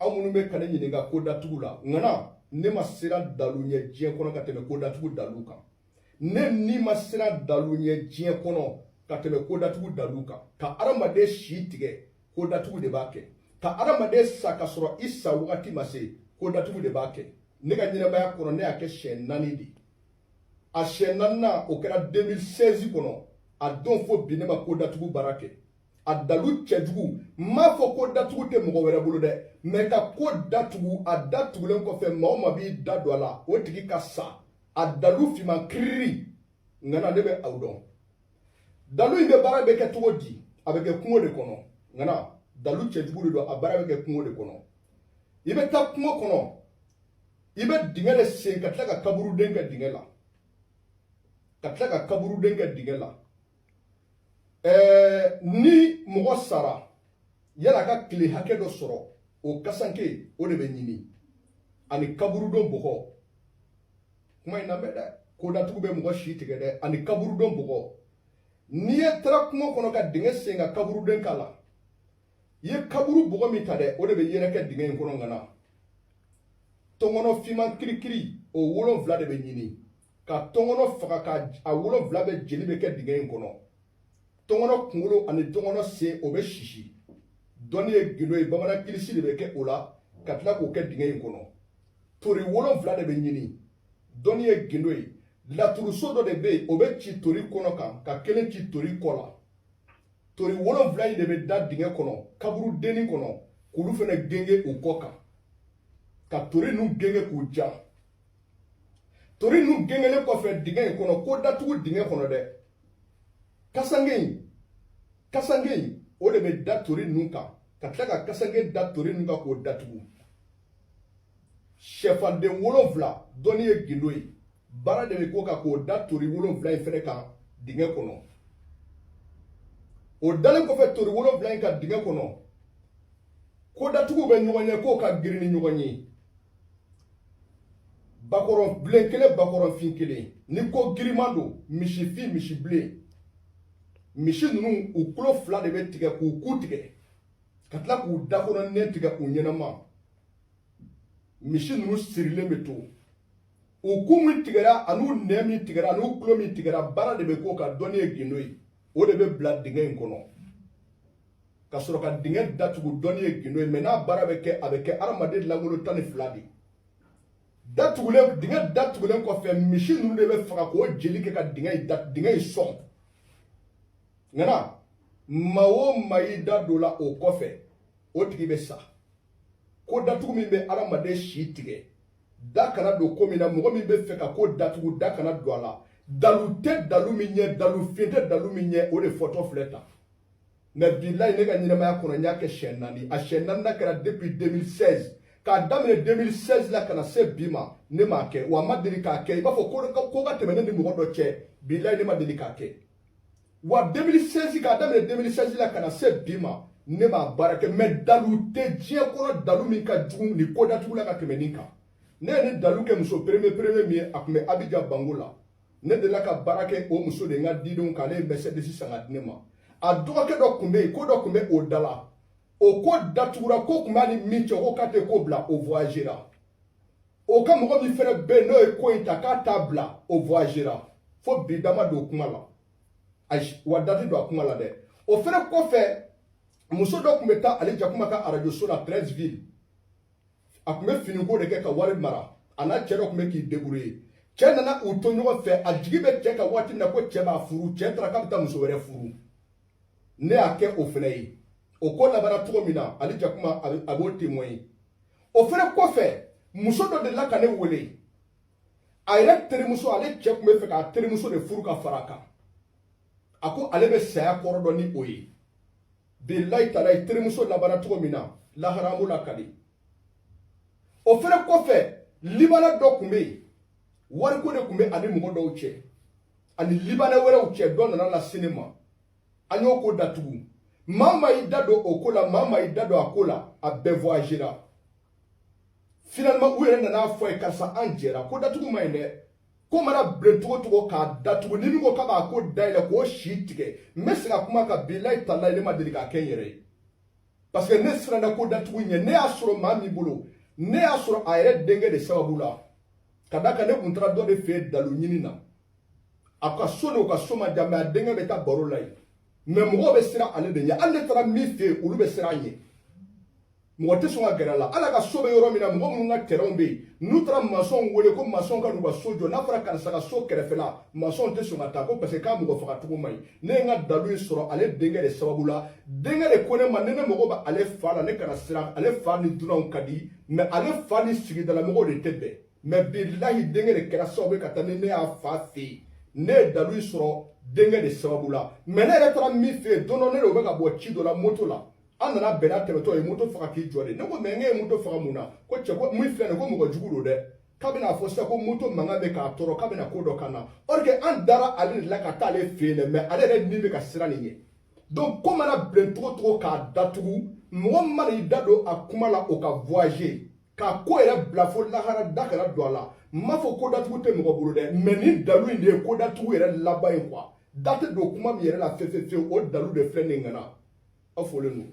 aw minnu bɛ ka ne ɲininka ko datugu la ŋana ne ma siran dalu ɲɛ diɲɛ kɔnɔ ka tɛmɛ ko datugu dalu kan ne ni ma siran dalu ɲɛ diɲɛ kɔnɔ ka tɛmɛ ko datugu dalu kan ka adamaden si tigɛ ko datugu de b'a kɛ ka adamaden sa ka sɔrɔ i sa wagati ma se ko datugu de b'a kɛ ne ka ɲɛnamaya kɔnɔ ne y'a kɛ siɲɛ naani de a siɲɛ naaninan o kɛra 2016 kɔnɔ a don fo bi ne ma ko datugu baara kɛ a dalu cɛjugu n m'a fɔ ko datugu tɛ mɔgɔ wɛrɛ bolo dɛ mɛ ka ko datugu a datugulen kɔfɛ maa o maa b'i da don a la o tigi ka sa a dalu finman kiriri ŋana ne bɛ aw dɔn dalu in bɛ baara bɛ kɛ cogo di a bɛ kɛ kungo de kɔnɔ ŋana dalu cɛjugu de don a baara bɛ kɛ kungo de kɔnɔ i bɛ taa kungo kɔnɔ i bɛ dingɛ de sen ka tila ka kaburuden kɛ dingɛ la ka tila ka kaburuden kɛ dingɛ la ɛɛ ni mɔgɔ sara yala ka kile hakɛ dɔ sɔrɔ o kasanke o de bɛ ɲini ani kaburudon bɔgɔ kuma in lamɛn dɛ ko datugu bɛ mɔgɔ si tigɛ dɛ ani kaburudon bɔgɔ ni e taara kungo kɔnɔ ka dingɛ sen ka kaburuden k'a la i ye kaburu bɔgɔ min ta dɛ o de bɛ yɛrɛkɛ dingɛ in kɔnɔ ŋana tɔnkɔnɔ finman kirikiri o wolonfila de bɛ ɲini ka tɔnkɔnɔ faga ka a wolonfila bɛɛ jeli bɛɛ kɛ dingɛ in kɔnɔ tɔnkɔnɔ kunkolo ani tɔnkɔnɔ sen o bɛ sisi dɔnni ye gindo ye bamanan kilisi de bɛ kɛ o la ka tila k'o kɛ dingɛ in kɔnɔ tori wolonfila de bɛ ɲini dɔnni ye gindo ye laturuso dɔ de bɛ yen o bɛ ci tori kɔnɔ kan ka kelen ci tori kɔ la tori wolonfila in de bɛ da dingɛ kɔnɔ kaburudennin kɔnɔ k'olu fɛnɛ genge u kɔ kan ka tori ninnu genge k'u ja tori nu gengelen kɔfɛ dingɛ in kɔnɔ ko datugu dingɛ kɔnɔ dɛ kasange in o de bɛ da tori ninnu kan ka tila ka kasange da tori ninnu kan k'o datugu sɛfan den wolonfila dɔnni ye gindo ye baara de bɛ k'o kan k'o da tori wolonfila in fɛnɛ kan dingɛ kɔnɔ o dalen kɔfɛ tori wolonfila in kan dingɛ kɔnɔ ko datugu bɛ ɲɔgɔn ɲɛ ko ka girin ni ɲɔgɔn ye bakɔrɔnbilen kelen bakɔrɔnfin kelen ni ko giriman don misifin misibilen misi ninnu u kulo fila de bɛ tigɛ k'u ku tigɛ ka tila k'u da kɔnɔ nɛn tigɛ u ɲɛnama misi ninnu sirilen bɛ to u ku min tigɛra an'u nɛn min tigɛra an'u kulo min tigɛra baara de bɛ k'o kan dɔnni ye gindo ye o de bɛ bila dingɛ in kɔnɔ ka sɔrɔ ka dingɛ datugu dɔnni ye gindo ye mais n'a baara bɛ kɛ a bɛ kɛ hadamaden langolo tan ni fila de ye datugulen dingɛ datugulen kɔfɛ misi ninnu de bɛ faga k'o jeli kɛ ka dingɛ in dingɛ in sɔn ŋana maa o maa y'i da don la o kɔfɛ o tigi bɛ sa ko datugu min bɛ hadamaden si tigɛ da kana don ko min na mɔgɔ min bɛ fɛ ka ko datugu da kana don a la dalu tɛ dalu min ɲɛ dalu fin tɛ dalu min ɲɛ o de fɔtɔ filɛ tan mais bilayi ne ka ɲɛnamaya kɔnɔ n y'a kɛ siyɛn naani a siyɛn naaninan kɛra depuis 2016 k'a daminɛ 2016 la ka na se bi ma ne m'a kɛ wa a ma deli k'a kɛ i b'a fɔ ko ka tɛmɛ ne ni mɔgɔ dɔ cɛ bilayi ne ma deli k'a kɛ wa 2016 k'a daminɛ 2016 la ka na se bi ma ne m'a baara kɛ mais dalu tɛ diɲɛ kɔnɔ dalu min ka jugu nin ko datugu la ka tɛmɛ nin kan ne ye nin dalu kɛ muso premier premier min ye a tun bɛ abidjan banco la ne delila ka baara kɛ o muso de n ka didenw kan ale ye mercedes san k'a di ne ma a dɔgɔkɛ dɔ tun bɛ yen ko dɔ tun bɛ o da la o ko datugura ko tun b'a ni min cɛ ko k'a tɛ ko bila o voyagera o ka mɔgɔ min fɛnɛ bɛ yen n'o ye ko in ta k'a t'a bila o voyagera fo bi da ma don kuma la ayiwa da tɛ don a kuma la dɛ o fɛnɛ kɔfɛ muso dɔ tun bɛ taa ali jakuma ka arajoso la treichville a tun bɛ finiko de kɛ ka wari mara a n'a cɛ dɔ tun bɛ k'i débrouiller cɛ nana u to ɲɔgɔn fɛ a jigi bɛ cɛ kan waati min na ko cɛ b'a furu cɛ taara k'a bɛ taa muso wɛrɛ furu ne y'a kɛ o fɛnɛ ye o ko labanna cogo min na ali jakuma a b'o témoigner o fɛnɛ kɔfɛ muso dɔ delila ka ne wele a yɛrɛ terimuso ale cɛ tun bɛ fɛ k'a terimuso de furu ka fara a kan a ko ale bɛ saya kɔrɔ dɔn ni o ye bilayi talayi terimuso labanna cogo min na lahara an b'o lakali o fɛnɛ kɔfɛ libanais dɔ tun bɛ yen wariko de tun bɛ a ni mɔgɔ dɔw cɛ ani libanais wɛrɛw cɛ dɔ nana lase ne ma an y'o ko datugu maa maa y'i da don o ko la maa maa y'i da don a ko la a bɛɛ voyagera finalement u yɛrɛ nana a fɔ n ye karisa an jɛra ko datugu man ɲi dɛ ko mana bilen cogo cogo k'a datugu ni min ko k'a b'a ko dayɛlɛ k'o si tigɛ n bɛ segin a kuma kan bilayi talayi ne ma deli k'a kɛ n yɛrɛ ye parce que ne siranna ko datugu ɲɛ ne y'a sɔrɔ maa min bolo ne y'a sɔrɔ a yɛrɛ denkɛ de sababu la ka da kan ne kun taara dɔ de fɛ yen dalu ɲini na a ka so n'o ka so ma jan mais a denkɛ bɛ taa baro la yen mais mɔgɔw bɛ siran ale de ɲɛ hali ne taara min fɛ yen olu bɛ siran a ɲɛ mɔgɔ tɛ sɔn ka gɛrɛ a la hal'a ka so bɛ yɔrɔ min na mɔgɔ minnu ka tɛrɛnw bɛ yen n'u taara masɔnw wele ko masɔn ka n'u ka so jɔ n'a fɔra karisa ka so kɛrɛfɛla masɔnw tɛ sɔn ka taa ko parce que k'a mɔgɔ faga cogo man ɲi ne ye n ka dalu in sɔrɔ ale denkɛ de sababu la denkɛ de ko ne ma ni ne mago bɛ ale fa la ne kana siran ale fa ni dunanw ka di mɛ ale fa ni sigidalamɔgɔw de tɛ bɛn mɛ bilahi denkɛ de kɛra sababu ye ka taa ni ne y'a fa fɛ yen ne ye dalu in sɔrɔ denkɛ de sababu la mɛ ne yɛrɛ taara min fɛ yen don dɔ ne n'o bɛ ka bɔ ci dɔ la moto la an nana bɛn n'a tɛmɛtɔ ye moto faga k'i jɔ de ne ko mɛ n ye moto faga mun na ko cɛ ko min filɛ nin ko mɔgɔ jugu don dɛ k'a bɛna fɔ sisan ko moto mankan bɛ k'a tɔɔrɔ k'a bɛna ko dɔ k'an na or que an dara ale de la ka taa ale fɛ yen dɛ mɛ ale yɛrɛ ni bɛ ka siran nin ɲɛ donc ko mana bilen cogo cogo k'a datugu mɔgɔ min mana i da don a kuma la o ka voyager k'a ko yɛrɛ bila fo lahara da kana don a la n m'a fɔ ko datugu tɛ mɔgɔ bolo dɛ mɛ ni dalu in de ye ko datugu yɛrɛ laban ye kuwa da tɛ don kuma min yɛrɛ la fefefewu o dalu de filɛ nin ŋana aw folen don